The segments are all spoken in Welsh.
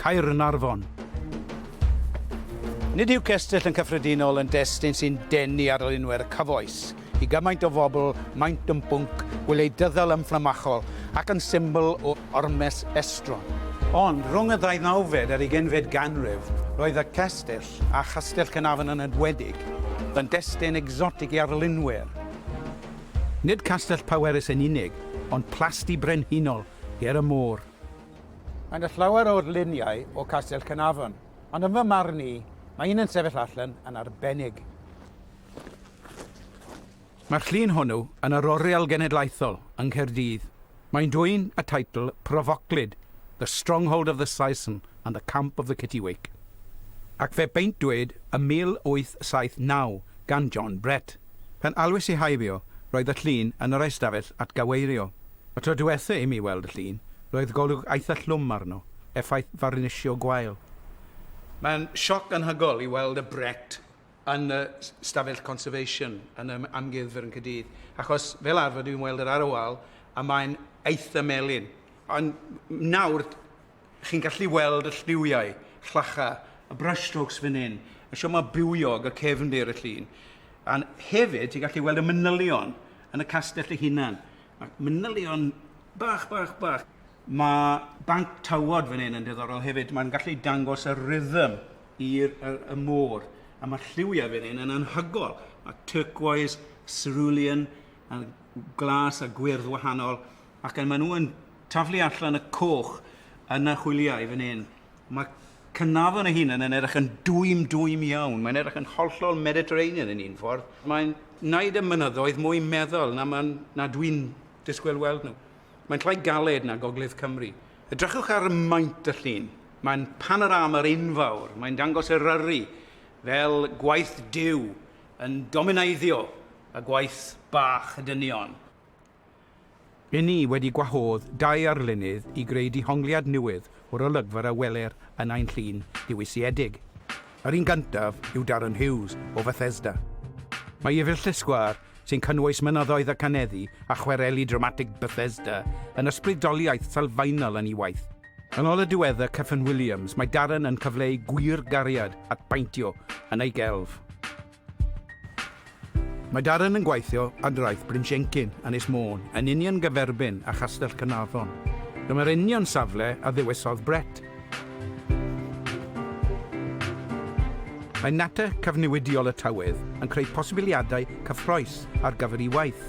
Caernarfon. Nid yw cestyll yn cyffredinol yn destun sy'n denu arlunwyr cyfoes. I gymaint o fobl, maent yn bwnc gwleidyddol ymfflamachol ac yn symbol o ormes estron. Ond, rhwng y ddeunawfed a'r ugeinfed ganrif, roedd y cestyll, a Chastell Caernarfon yn enwedig, yn destun egsotig i arlunwyr. Nid castell pwerus yn unig, ond plasty brenhinol ger y môr. Mae yna llawer o'r luniau o Castell Caernarfon, ond yn fy marn i, mae un yn sefyll allan yn arbennig. Mae'r llun hwnnw yn yr Oriel Genedlaethol yng Nghaerdydd. Mae'n dwyn y teitl profoclyd The Stronghold of the Saeson and the Camp of the Kittiwake, ac fe beintwyd ym 1879 gan John Brett. Pan alwais i heibio, roedd y llun yn yr eistafell atgyweirio. Y tro diwetha' i mi weld y llun, roedd golwg eitha' llwm arno, effaith farnisio gwael. Mae'n sioc anhygol i weld y brett yn y stafell conservation yn yr Amgueddfa yn Caerdydd, achos fel arfer dwi'n weld yr ar y wal a mae'n eitha' melyn. Ond nawr chi'n gallu weld y lliwiau, llacha, y brushstrokes fan hyn, y sioma bywiog, y cefndir, y llun. A hefyd, ti'n gallu weld y manylion yn y castell y hunan. Mae manylion bach, bach, bach. Mae banc tywod fan hyn yn diddorol hefyd. Mae'n gallu dangos y rhythm i'r y, y môr. A mae'r lliwiau fan hyn yn anhygol. Mae turquoise, cerulean, a glas a gwyrdd wahanol. Ac yn maen nhw yn taflu allan y coch yn y hwyliau fan hyn. Mae Cynarfon ei hunan yn edrych yn dwym, dwym iawn. Mae'n edrych yn hollol Mediterranean yn un ffordd. Mae'n wneud y mynyddoedd mwy meddal na, man, na dwi'n disgwyl weld nhw. Mae'n llai galed na Gogledd Cymru. Edrychwch ar maint y llun. Mae'n panorama'r unfawr. Mae'n dangos Eryri fel gwaith Duw yn domineiddio y gwaith bach y dynion. Ry'n ni wedi gwahodd dau arlunydd i greu dihongliad newydd o'r olygfa a weler yn ein llun ddiwysiedig. Yr un gyntaf yw Darren Hughes o Fethesda. Mae ef yw'r llysgwar sy'n cynnwys mynyddoedd a caneddu a chwareli dramatig Bethesda yn ysbrydoliaeth sylfaenol yn ei waith. Yn ôl y diweddar Kyffin Williams, mae Darren yn cyfleu gwir gariad at baentio yn ei gelf. Mae Darren yn gweithio ar draeth Bryn Siencyn, Ynys Môn, yn union gyferbyn â Chastell Caernarfon. Dyma'r union safle a ddewisodd Brett. Mae natur cyfnewidiol y tywydd yn creu posibiliadau cyffrous ar gyfer ei waith.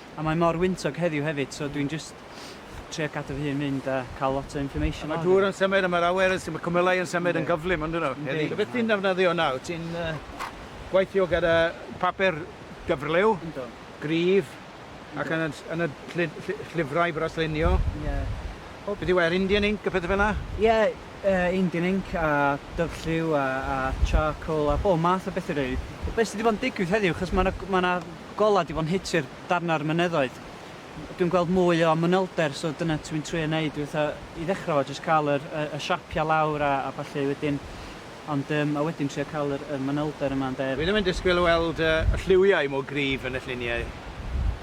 A mae mor wyntog heddiw hefyd so dwi'n jyst trio cadw fy hun mynd a cael lot o information Mae'r dŵr yn symud a mae'r awyr yn symud, mae cwmylau yn symud yn gyflym yn dyn nhw heddi. So beth ti'n defnyddio nawr? Ti'n gweithio gyda papur dyfrliw, gryf ac yn y llyfrau braslunio? Ie. Beth yw e, yr Indian ink a pethau fel yna? Ie, Indian ink a dyfrlliw a charcoal a bob math o bethau rili. Be sy 'di bod yn digwydd heddiw, achos mae 'na golau di fo'n hiti'r darnau o'r mynyddoedd dwi'n gweld mwy o manylder so dyna dwi'n trio neud yw fatha i ddechrau fo jyst cael yr y y siapiau lawr a a ballu wedyn ond yym a wedyn trio cael yr y manylder yma ynde. Dwi ddim yn disgwyl weld y y lliwiau mor gryf yn y lluniau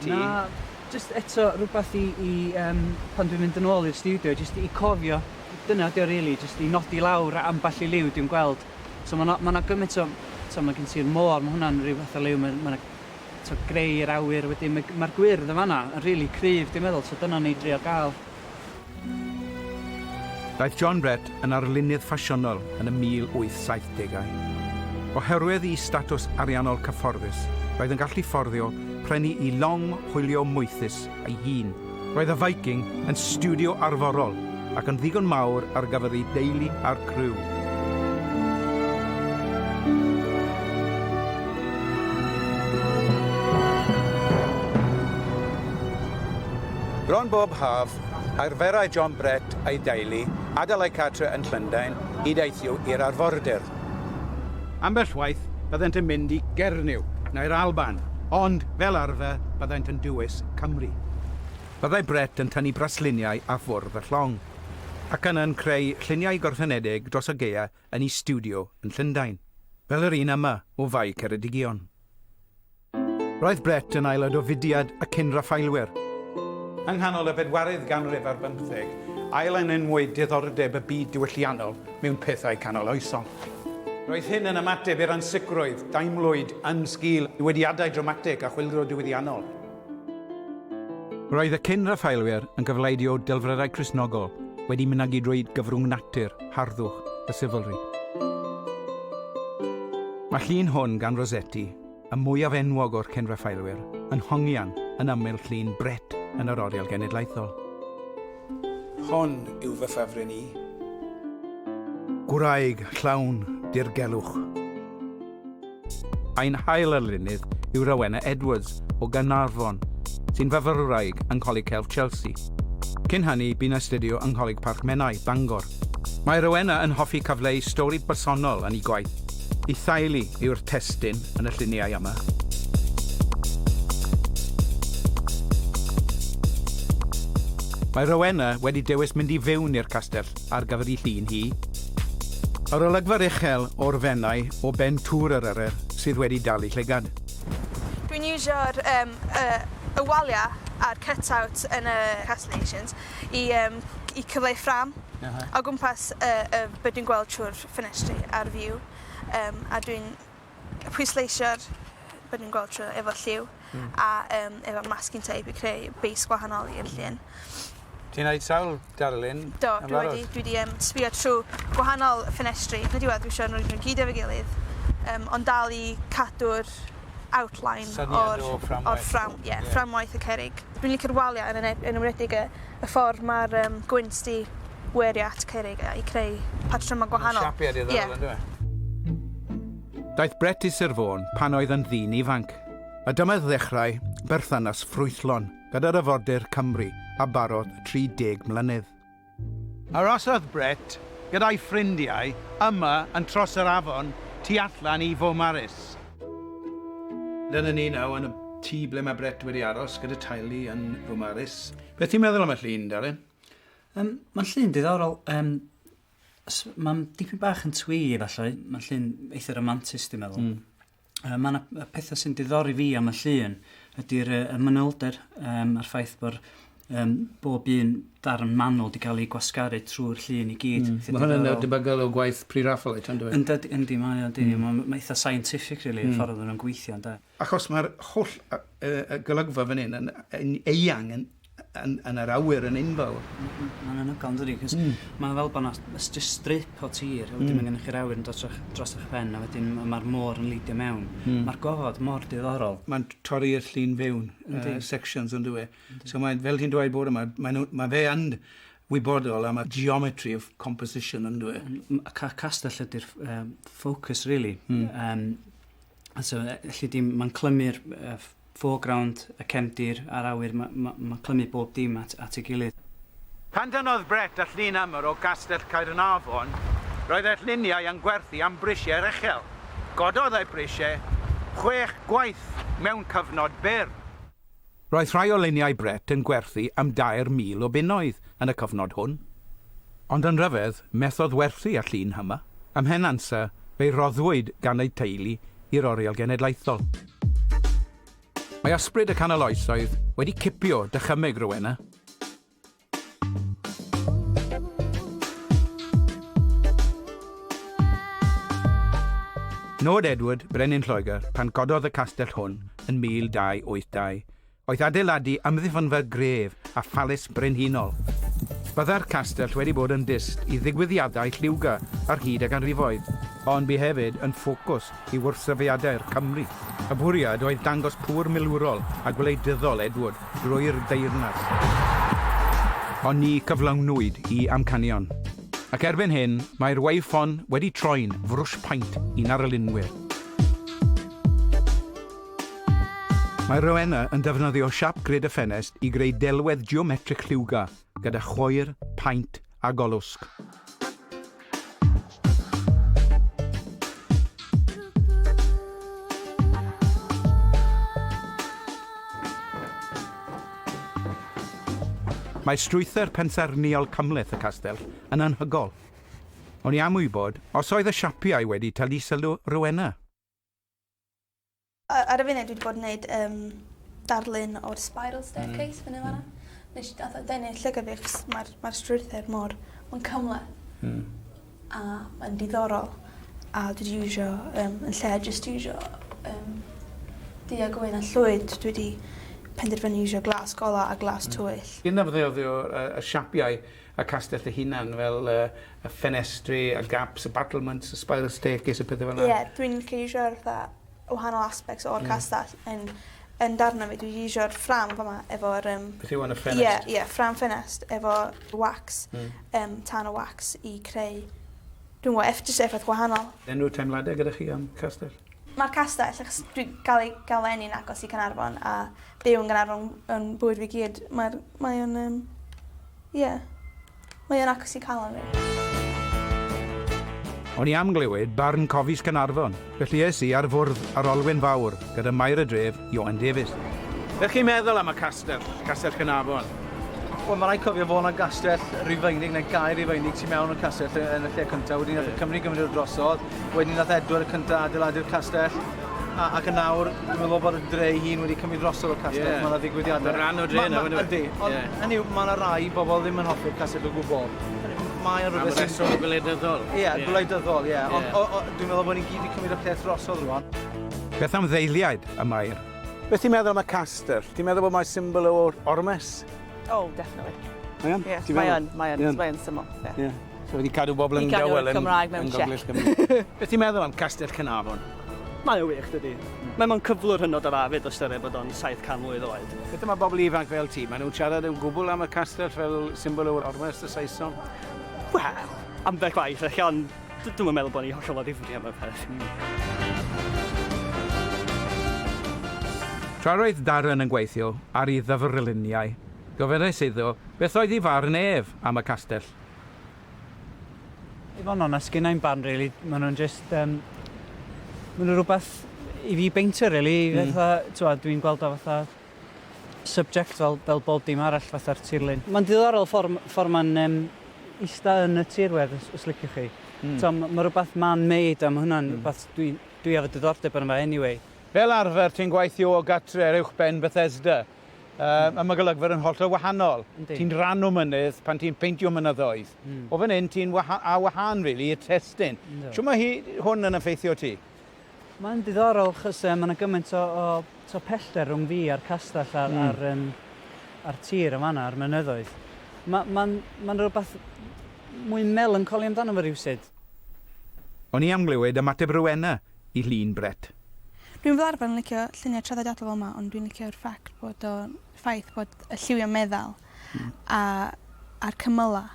ti. Na jyst eto rwbath i i yym pan dwi'n mynd yn ôl i'r stiwdio jyst i cofio dyna ydi o rili jyst i nodi lawr ambell i liw dwi'n gweld. So ma' 'na ma' 'na gymaint o t'o' ma' gen ti'r môr ma' hwnna'n ryw fath o liw ma' ma' 'na t'o' greu yr awyr wedyn ma' ma'r gwyrdd yn fan 'na yn rili cryf dwi'n meddwl so dyna o'n i'n drio ga'l. Daeth John Brett yn arlunydd ffasiynol yn y 1870au. Oherwydd i statws ariannol cyfforddus roedd yn gallu fforddio prynu i long hwylio moethus ei hun, Roedd y Viking yn stiwdio arforol ac yn ddigon mawr ar gyfer ei deulu a'r criw. Bron bob haf, arferai John Brett a'i deulu adael eu cartref yn Llundain i deithio i'r arfordir. Ambell waith byddent yn mynd i Gernyw neu'r Alban, ond fel arfer byddent yn dywys Cymru. Byddai Brett yn tynnu brasluniau a ffwrdd y llong, ac yna'n creu lluniau gorffenedig dros y gaeau yn ei stiwdio yn Llundain, fel yr un yma o Fae Ceredigion. Roedd Brett yn aelod o fudiad y Cyn-Raffaelwyr. Yng nghanol y bedwaredd ganrif ar bymtheg, ail-enenwyd diddordeb y byd diwylliannol mewn pethau canoloesol. Roedd hyn yn ymateb i'r ansicrwydd daemlwyd yn sgil newidiadau dramatig a chwyldro diwylliannol. Roedd y Cyn-Raffaelwyr yn gyfleidio delfrydau Cristnogol wedi mynegi drwy gyfrwng natur, harddwch a chivalry. Mae llun hwn gan Rossetti y mwyaf enwog o'r cyn-Raffaelwyr, yn hongian yn ymyl llun Brett yn yr Oriel Genedlaethol. Hon yw fy ffefryn i. Gwraig llawn dirgelwch. Ein hail arlunydd yw Rowena Edwards o Gaernarfon, sy'n fyfyrwraig yng Ngholeg Celf Chelsea. Cyn hynny, bu'n astudio yng Ngholeg Parc Menai, Bangor. Mae Rowena yn hoffi cyfleu stori bersonol yn ei gwaith. Ei theulu yw'r testun yn y lluniau yma. Mae Rowena wedi dewis mynd i fewn i'r castell ar gyfer ei llun hi. Yr olygfa'r uchel o'r Fenai o ben Tŵr yr Eryr sydd wedi dal ei llygad. Dwi'n iwsio'r y waliau a'r cut-out yn y castellations i yym i cyfleu ffrâm o gwmpas y y be' dwi'n gweld trw'r ffenestri a'r view yym a dwi'n pwysleisio'r be' dwi'n gweld trw efo lliw. Hmm. A yym efo masking tape i creu base gwahanol i'r llun. Ti neud sawl darlun? Do dwi wedi dwi 'di yym sbïo trw gwahanol ffenestri yn y diwedd dwi isio nw i gyd efo'i gilydd yym ond dal i cadw'r outline o'r... Syniad o'r fframwaith. ...o'r ffram- ie. Ie. ...fframwaith y cerrig. Dwi'n licio'r walia yn ene- yn enwedig y y ffor ma'r yym gwynt 'di werio at cerrig a i creu patryma gwahanol. Ma'n siapio diddorol Ie. on'd yw e? Daeth Brett i Sir Fôn pan oedd yn ddyn ifanc, a dyma ddechrau berthynas ffrwythlon gyda'r Afordir Cymru a barodd 30 mlynedd. Arosodd Brett gyda'i ffrindiau yma yn tros yr afon tu allan i Fomaris. Dyna ni nawr yn y tŷ ble mae Brett wedi aros gyda teulu yn Fomaris. Beth ti'n meddwl am y llun, Darren? Yym, mae'n llun diddorol. Yym, mae'n dipyn bach yn twee, efallai. Mae'n llun eitha romantis, dwi'n meddwl. Mm. yy ma' 'na yy petha sy'n diddori fi am y llun ydi'r yy y manylder yym a'r ffaith bo'r yym bob un darn manwl 'di ga'l 'i gwasgaru trwy'r llun i gyd. Hmm. Ma' hwnna'n yy debygol o gwaith pre-Raphaelite on'd yw e? Yndyd- yndi mae o yndi. Hmm. Ma' ma' eitha scientific rili... Hmm. ...y ffordd ma' nw'n gweithio ynde? Achos ma'r holl yy yy golygfa fan 'yn yn yn eang yn yn, yn yr awyr yn unfawr. Mae'n anhygoel yn dydi, cos mm. mae'n fel bod yna just strip o tir, a wedyn mm. mae gennych chi'r awyr yn dod dros eich pen, a wedyn mae'r môr yn leidio mewn. Mm. Mae'r gofod mor diddorol. Mae'n torri'r llun fewn, uh, sections yn dweud. So mae, fel ti'n dweud bod yma, mae, nhw, mae fe yn wybodol am y geometry of composition yn dweud. Castell ydy'r um, focus, really. Mm. Um, So, felly dim, mae'n clymu'r uh, foreground, y cefndir a'r awyr, mae'n ma, ma clymu bob dim at, at ei gilydd. Pan dynnodd Brett a llun amr o Gastell Caernarfon, roedd ei lluniau yn gwerthu am brisiau uchel. Gododd ei brisiau chwech gwaith mewn cyfnod byr. Roedd rhai o luniau Brett yn gwerthu am 2,000 o bunnoedd yn y cyfnod hwn. Ond yn rhyfedd, methodd werthu y llun yma, a mhen ansa, fe'i roddwyd gan ei teulu i'r Oriel Genedlaethol. Mae ysbryd y canol oesoedd wedi cipio dychymyg Rowena. Nod Edward, Brenin Lloegr, pan gododd y castell hwn yn 1282, oedd adeiladu amddiffynfa gref a phalis brenhinol. Byddai'r castell wedi bod yn dyst i ddigwyddiadau lliwgar ar hyd y ganrifoedd, ond bu hefyd yn ffocws i wrthsefydliadau'r Cymry. Y bwriad oedd dangos pŵer milwrol a gwleidyddol Edward drwy'r deyrnas. Ond ni gyflawnwyd i amcanion. Ac erbyn hyn, mae'r Wavefon wedi troi'n frwsh paent i'n arlunwyr. Mae Rowena yn defnyddio siap grid y ffenest i greu delwedd geometrig lliwgar. gyda choir, paent a golwsg. Mae strwythur pensaernïol cymhleth y castell yn anhygol. O'n i am wybod os oedd y siapiau wedi talu sylw Rowena. Ar y funud dwi 'di bod yn neud yym darlun o'r spiral staircase fyny fan 'na. Nesh i gath o denu llygad fi achos ma'r ma'r strwythur mor ma'n cymleth. Hmm. A mae'n diddorol a dwi 'di iwsio yym yn lle jyst iwsio yym du a gwyn a llwyd dwi 'di penderfynu iwsio glas gola a glas tywyll. Dyna beth o yy y siapiau y castell ei hunan, fel y y ffenestri, y gaps, y battlements, y spiral staircase, y pethe fel 'na? Ie, dwi'n gallu iwsio'r fatha wahanol aspects o'r castell yn yn darna fi. Dwi 'di iwsio'r ffrâm fa' 'ma efo'r yym... Beth yw enw ffenest? Ie ie ffrâm ffenest efo wax. Hmm. Yym tân o wax i creu dw'm g'o' eff- jyst effaith gwahanol. Unryw teimlade gyda chi am castell? Ma'r castell achos dwi ga'l ei ga'l fy eni'n agos i Canarfon a byw yn Ganarfon yn bywyd fi gyd ma'r mae o'n yym Ie. Mae o'n agos i calon fi. O'n i am glywed barn Cofis Caernarfon, felly es i ar fwrdd ar Olwyn Fawr gyda Maer y Dref, Ioan Davies. Be chi'n meddwl am y castell, Castell Caernarfon? Wel, mae rhaid cofio fod yna gastell Rufeinig, neu gaer Rufeinig, tu mewn i'r castell yn y lle cyntaf. Wedyn ni nath y Cymry gymryd o drosodd. Wedyn ni nath Edward y Cyntaf adeiladu'r castell. A, ac yn awr, dwi'n meddwl bod y dre ei hun wedi cymryd drosodd y castell. Ie. Mae yna ddigwyddiadau. Mae'n rhan o'r dre nawr, yndyw e? Ydy. Ond, Ie. hynny yw, mae yna rai bobl ddim yn hoffi'r castell o gwbl. Hynny yw, mae o'n Am rhywbeth sy'n... reswm gwleidyddol. Ie, gwleidyddol, ie. Ond, Ie. o- o- dwi'n meddwl bod ni gyd wedi cymryd y peth drosodd rwan. Beth am ddeiliaid y Mair? Beth ti'n meddwl am y castell? Ti'n meddwl bod mae'n symbol o ormes? Oh, definitely. Mae yn? Ie, Ti'n mae meddwl? yn, mae yn, Ie. mae yn syml, ie. Ie. So wedi cadw bobl yn dawel yn Cymraeg mewn Gogledd Cymru. Beth ti'n meddwl am Castell Cynarfon? Mae o wych, dydy. Mm. Mae mae'n cyflwr hynod o dda fyd o styried bod o'n 700 mlwydd oed. Beth mae bobl ifanc fel ti? Mae nhw'n siarad yn gwbl am y castell fel symbol o'r orwest y Saeson? Wel, ambell waith, eich ond dwi'n meddwl bod ni hollol o ddifri am y peth. Tra roedd Darren yn gweithio ar ei ddyfrluniau, gofynnais iddo beth oedd ei farn ef am y castell. I fod yn onest, sgynna i'm barn rili, ma' nhw'n jyst yym ma' nhw rwbeth i fi beintio rili i hmm. fatha t'wod dwi'n gweld o fatha subject fel fel bob dim arall fatha'r tirlun. Mae'n ddiddorol ffor' m- ffor' ma'n yym ista yn y tirwedd os os liciwch chi. Mm. T'o' ma' ma' rwbath man-made a ma' hwnna'n mm. rwbath dwi dwi efo diddordeb arno fe anyway. Fel arfer ti'n gweithio o gartre uwchben Bethesda. Mae mae golygfeydd yn hollol wahanol. Ti'n rhan o mynydd pan ti'n peintio mynyddoedd. Mm. O fan hyn ti'n waha a wahân really i'r testyn. No. Siw mae hi hwn yn effeithio ti? Mae'n diddorol chys uh, mae yna gymaint o, o to pellter rhwng fi a'r castell a'r, mm. a'r, um, a'r tir yn fanna, a'r mynyddoedd. Mae'n ma, ma, ma rhywbeth mwy melancoli amdano fo rhywsyd. O'n i am glywed ymateb Rowena i llun Brett. Dwi'n fel arfer yn licio lluniau traddodiadol fel 'ma ond dwi'n licio'r ffact bod o ffaith bod y lliwiau meddal a a'r cymylau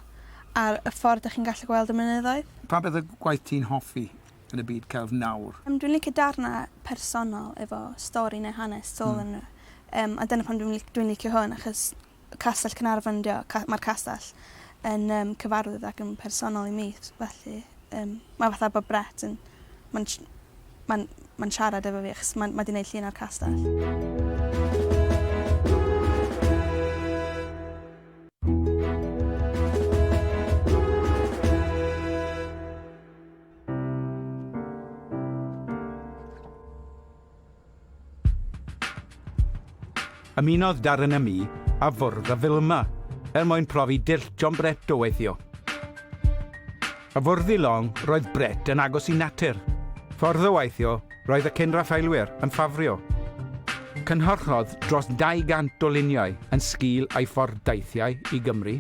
a'r y ffordd 'dych chi'n gallu gweld y mynyddoedd. Pa beth yw gwaith ti'n hoffi yn y byd celf nawr? Yym dwi'n licio darnau personol efo stori neu hanes tu ôl ynddo fe. Yym a dyna pam dwi'n dwi'n licio hwn achos Castell Caernarfon ydi o ca- ma'r castell yn yym cyfarwydd ac yn personol i mi s- felly yym ma' fatha bo' Brett yn ma'n sh- ma'n ma'n siarad efo fi achos ma'n ma' 'di neud llun o'r castell. Ymunodd Darren â mi ar fwrdd y Vilma er mwyn profi dull John Brett o weithio. Y fwrdd i long, roedd Brett yn agos i natur. Ffordd o weithio, roedd y cyn Raffaelwyr yn ffafrio. Cynhyrchodd dros 200 o luniau yn sgil ei ffordd deithiau i Gymru.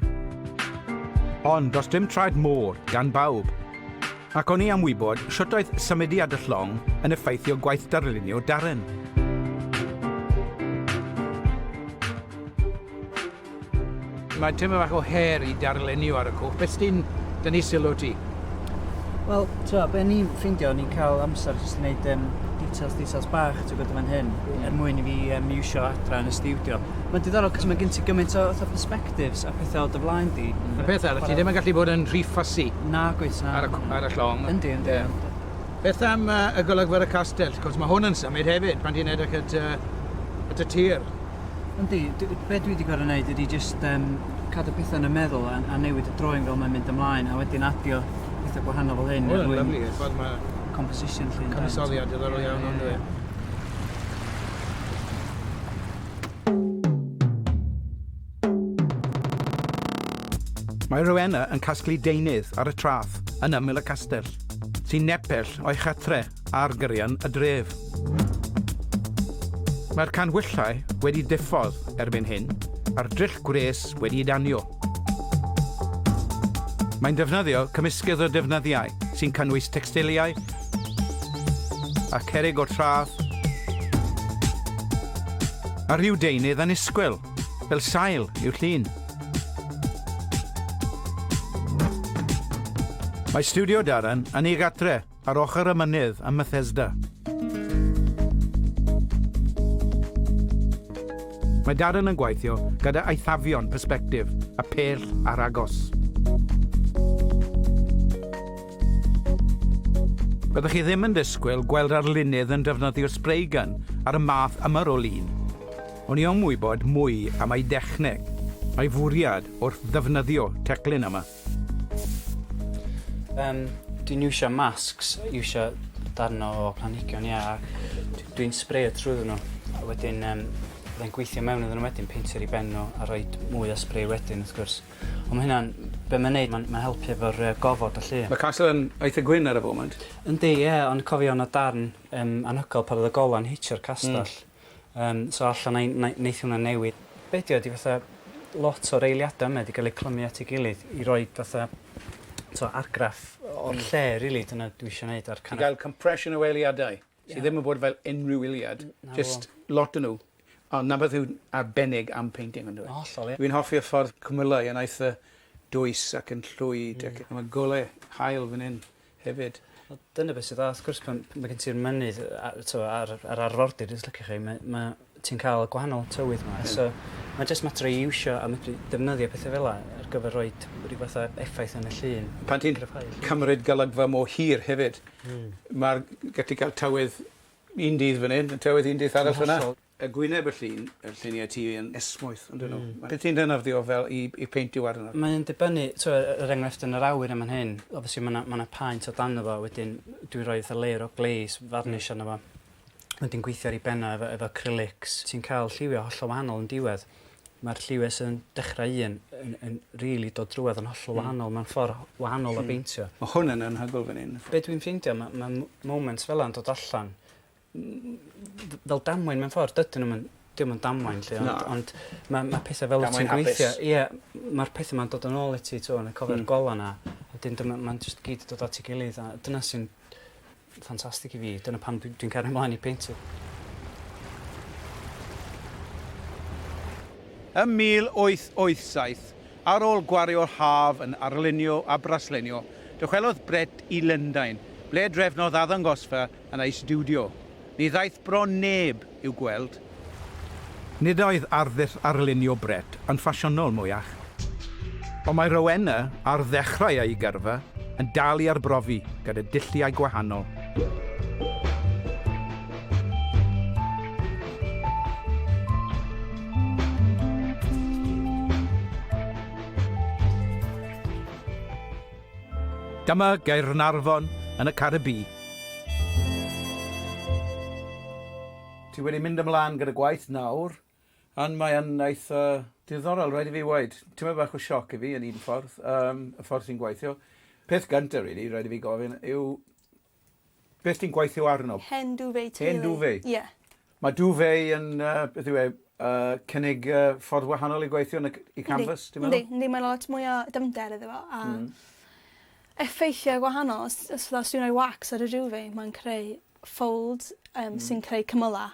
Ond does dim traed môr gan bawb. Ac o'n i am wybod shwt oedd symudiad y llong yn effeithio gwaith darlunio Darren. Mae tyma fach o her i darlunio ar y cwch. Beth sy'n dynnu sylw ti? Wel, ti'n be ni'n ffeindio, ni'n cael amser jyst i wneud um, details, details bach, ti'n gwybod, fan hyn, mm. er mwyn i fi um, iwsio adra yn y studio. Mae'n diddorol, cos mae gen ti gymaint o, o perspective directives a pethau o dy flaen di. Y peth arall, ti ddim yn gallu bod yn rhy fussy... Nag wyt, na. ...ar y llong. Yndi, yndi, yndi. Beth am y golygfa ar y castell? Wrth gwrs, mae hwn yn symud hefyd pan ti'n edrych at y tir. Yndi, be dwi 'di gorfod neud ydi jyst cadw pethau yn y meddwl a newid y drawing fel mae'n mynd ymlaen a wedyn adio pethau gwahanol fel hyn... Wel, lyfli, y ffordd mae... ...composition 'lly... Cyfansoddiad diddorol iawn, yn dyw e? Mae Rowena yn casglu deunydd ar y traeth yn ymyl y castell, sy'n nepell o'i chartre ar gyrion y dref. Mae'r canhwyllau wedi diffodd erbyn hyn, a'r dryll gwres wedi'i danio. Mae'n defnyddio cymysgedd o defnyddiau sy'n cynnwys tecstiliau a cerrig o'r traeth a rhyw deunydd annisgwyl, fel sail, i'w llun. Mae studio Darren yn ei gadre Ar ochr y mynydd ym Methesda. Mae Darren yn gweithio gyda eithafion persbectif a phell ar agos. Byddwch chi ddim yn disgwyl gweld arlunydd yn defnyddio'r spray gun ar y math yma o lun. O'n i am wybod mwy am ei dechneg, a'i fwriad wrth ddefnyddio teclyn yma. Yym dwi'n iwsio masks iwsio darn o planhigion ia a d- dwi'n sbreio trwyddo n'w a wedyn yym fyddai'n gweithio mewn iddyn n'w wedyn peintio ar 'u ben n'w a rhoid mwy o sbrei wedyn wrth gwrs. On' ma' hynna'n be' ma'n neud ma'n ma'n helpu efo'r yy gofod a 'lly. Mae Castle yn eitha gwyn ar y foment. Yndi ie ond cofio o' 'na darn yym anhygoel pan o'dd y gola'n hitio'r castell. Hmm. Yym so alla nai nai neith hwnna newid. Be' 'di o ydi fatha lot o'r eiliada yma 'di ga'l eu clymu at ei gilydd i roid fatha t'o' argraff o'r lle rili dyna dwi isio neud a'r kind of... I ga'l compression o eiliadau sy ddim yn bod fel unrhyw iliad jyst lot o n'w a 'na beth yw arbennig am painting on'd yw e? Hollol ie. Fi'n hoffi'r ffordd cymylau yn aeth y dwys ac yn llwyd ac ma' gole haul fan 'yn hefyd. Wel dyna be' sy dda wrth gwrs pan ma' gen ti'r mynydd yy a- t'wo' a'r yr arfordir os liciwch chi mae ma' ti'n ca'l y gwahanol tywydd 'ma so ma' jyst mater o iwsio a medru defnyddio pethe fel 'a ar gyfer roid ryw fath o effaith yn y llun. Pan ti'n cymryd golygfa mor hir hefyd... Hmm. ...ma'r gallu ca'l tywydd un dydd fan 'yn a tywydd un dydd arall fan 'na. Y gwyneb y llun, y lluniau ti yn esmwyth ynddyn nhw. Mm. Beth sy'n dy anaddio fel i i peintio arnyn nhw? Mae'n dibynnu, t'wo' e- er enghraifft yn yr awyr yn fan hyn, obviously ma' 'na ma' 'na paent o dano fo wedyn dwi'n rhoi fatha layer o glaze, varnish, arno fo. Wedyn gweithio ar 'i ben o efo efo acrylics. Ti'n ca'l lliwia' hollol wahanol yn diwedd. Ma'r lliwie sydd yn dechra un yn yn rili dod drwodd yn hollol wahanol mewn ffor wahanol o beintio. Ma' hwn yn anhygoel fan 'yn. Be' dwi'n ffeindio ma' ma' m- moments fela yn dod allan fel damwain mewn ffordd dydyn nw'm yn 'di o'm yn damwain 'lly ond... Na. ...ond ma' ma' petha fel wyt ti'n gweithio... Damwain hapus. ...ie m- ma'r petha 'ma'n dod yn ôl i ti t'wo' yn y cofio'r... Hmm. ...gola' 'na a 'dyn dyma ma'n jyst i gyd yn dod at 'i gilydd a dyna sy'n ffantastig i fi dyna pam dwi dwi'n cario mlaen i peintio. Ym 1887, ar ôl gwario'r haf yn arlunio a braslenio, dychwelodd Brett i Lundain, ble drefnodd addangosfa yn ei stiwdio. Ni ddaeth bron neb i'w gweld. Nid oedd arddull arlunio Brett yn ffasiynol mwyach. Ond mae Rowena, ar ddechrau ei gyrfa, yn dal i arbrofi gyda dulliau gwahanol. Dyma Gaernarfon yn y Caribî. Ti wedi mynd ymlan gyda gwaith nawr, and mae yn eitha diddorol, rhaid i fi weud. Tymed bach o sioc i fi yn un ffordd, yym, y ffordd ti'n gweithio. Peth gynta rili, rhaid i fi gofyn, yw Beth ti'n gweithio arno? Hen duvet teulu. Hen duvet? Ie. Mae duvet yn yy beth yw e yy cynnig yy ffordd wahanol i gweithio na c- i canvas ti'n meddwl? Yndi yndi mae 'na lot mwy o dyfnder iddo fo a... Hmm. ...effeithie gwahanol os os fel os dwi'n roi wax ar y duvet mae'n creu folds yym sy'n creu cymyla'.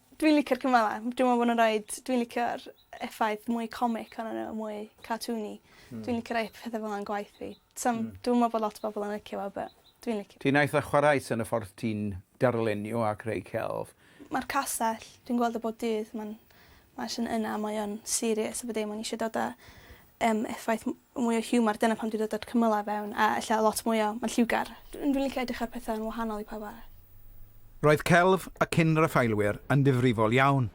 Dwi'n licio'r cymale. Dwi me'wl bo' nw'n roid dwi'n licio'r effaith mwy comic onyn n'w a mwy cartoony. Hmm. Dwi'n licio rei o'r pethe fel 'a yn gwaith fi. Sa'm... Hmm. Dwi'm yn me'wl bo' lot o bobol yn licio fo but dwi'n licio. Ti'n eitha chwareus yn y ffordd ti'n darlunio a creu celf. Ma'r castell dwi'n gweld o bob dydd ma'n mae jys yn yna mae o'n serious a bo' dim o'n i isio dod â yym effaith m- mwy o hiwmar dyna pam dwi dod at cymyla fewn a ella lot mwy o ma'n lliwgar. Dwi'n dwi'n licio edrych ar petha yn wahanol i pawb arall. Roedd celf y cyn-Raffaelwyr yn ddifrifol iawn,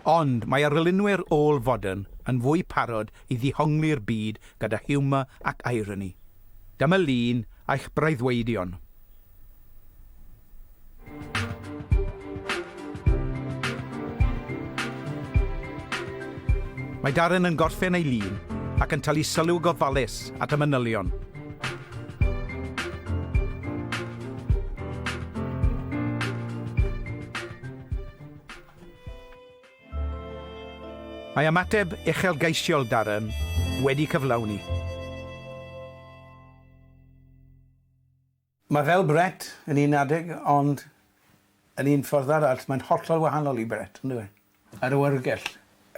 ond mae arlunwyr ôl-fodern yn fwy parod i ddihongli'r byd gyda hiwmor ac ironi. Dyma lun a'ch breuddwydion. Mae Darren yn gorffen ei lun ac yn talu sylw gofalus at y manylion. Mae ymateb uchelgeisiol Darren wedi cyflawni. Mae fel Brett yn un adeg ond yn un ffordd arall mae'n hollol wahanol i Brett, on'd yw e? Yr oergell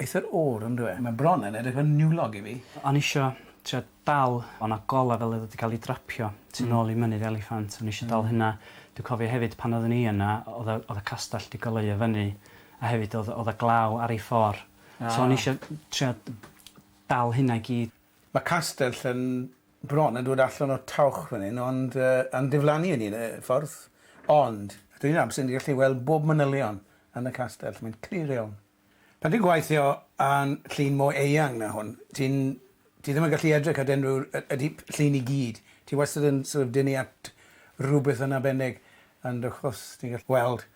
eithr oer, on'd yw e? Mae bron yn edrych fel niwlog i fi. O'n i isio trio dal, o' 'na gola fel oedd o 'di cael ei drapio tu nôl i Mynydd Eliffant, o'n i isio dal hynna. Dwi'n cofio hefyd pan oeddwn i yna oedd y oedd y castell 'di goleuo fyny a hefyd oedd oedd y glaw ar ei ffor'. So o'n i isio trio dal hynna i gyd. Mae castell yn bron yn dod allan o'r tawch fan hyn ond yy yn diflannu yn un y ffordd ond yr un amser ni'n gallu weld bob manylion yn y castell, mae'n clir iawn. Pan ti'n gwaithio a'n llun mor eang na hwn ti'n ti ddim yn gallu edrych at unrhyw y y llun i gyd, ti wastad yn sort of dynnu at rhywbeth yn arbennig And of course ti'n gallu gweld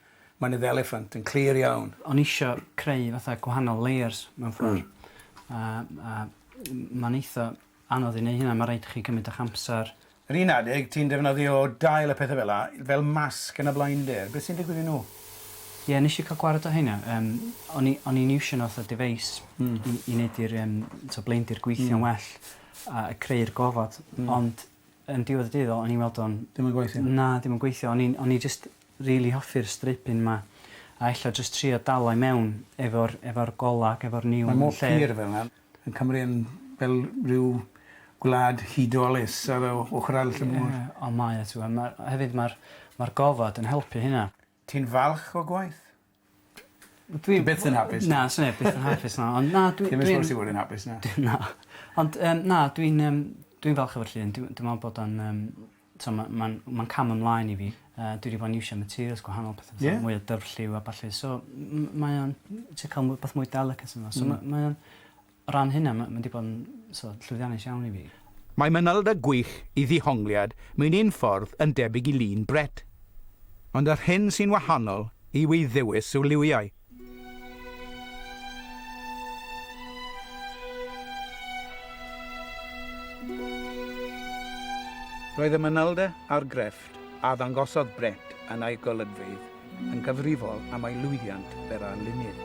mynydd eliffant yn clir iawn. O'n isio creu fatha gwahanol layers mewn ffordd. Hmm. A a ma'n eitha anodd i neu' hynna ma' raid i chi cymryd ych amser. Yr un adeg ti'n defnyddio dail a pethe fela fel masg yn y blinder beth sy'n digwydd i nhw? Ie nesh i ca'l gwared o rheina yym o'n i o'n i'n iwsio n'w fatha device... Hmm. ...i i neud i'r yym t'o' blindyr gweithio'n well a creu'r gofod. Hmm. Ond Yn diwedd y dydd o'n i'n weld o'n... Dim yn gweithio? Na, dim yn gweithio. O'n i'n o'n i jyst rili hoffi'r stripyn 'ma a ella jyst trio dal o i mewn efo'r efo'r gola ac efo'r niwl yn lle. Mae mor pur fel 'na. Yn Cymru yn fel rhyw gwlad hudolus ar y ochor arall y môr. Ie, ond mae o t'w'o' ma' hefyd ma'r ma'r gofod yn helpu hynna. Ti'n falch o gwaith? Dwi... Ti byth yn hapus na? Na swn i byth yn hapus na ond na dwi dwi'n... Ti'm yn supposed i fod yn hapus na. Dwi na. Ond yym na dwi'n yym dwi'n falch efo'r llun dwi dwi me'wl bod o'n yym t'mo' ma' ma'n ma'n cam ymlaen i fi. Yy dwi 'di bo' yn iwsio materials gwahanol petha fatha... Ie? ...mwy o dyfrlliw a ballu so m- m- mae o'n m- ti ca'l mwy bach mwy delicate yno so ma' mae o'n O ran hynna ma' ma' 'di bod yn so llwyddiannus iawn i fi. Mae manylder gwych i ddihongliad mewn un ffordd yn debyg i lun Brett. Ond yr hyn sy'n wahanol yw ei ddewis o liwiau. Roedd y manylder a'r grefft a ddangosodd Brett yn ei golygfeydd yn gyfrifol am ei lwyddiant fer a lunydd.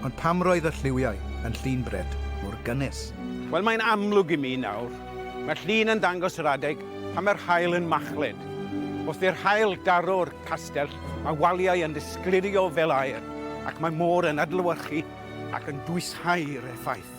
Ond pam roedd y lliwiau yn llun bred mor gynnes? Wel, mae'n amlwg i mi nawr. Mae'r llun yn dangos yr adeg pan mae'r haul yn machlud. Wrth i'r haul daro'r castell, mae waliau yn disgleirio fel aer ac mae môr yn adlewyrchu ac yn dwysshau'r effaith.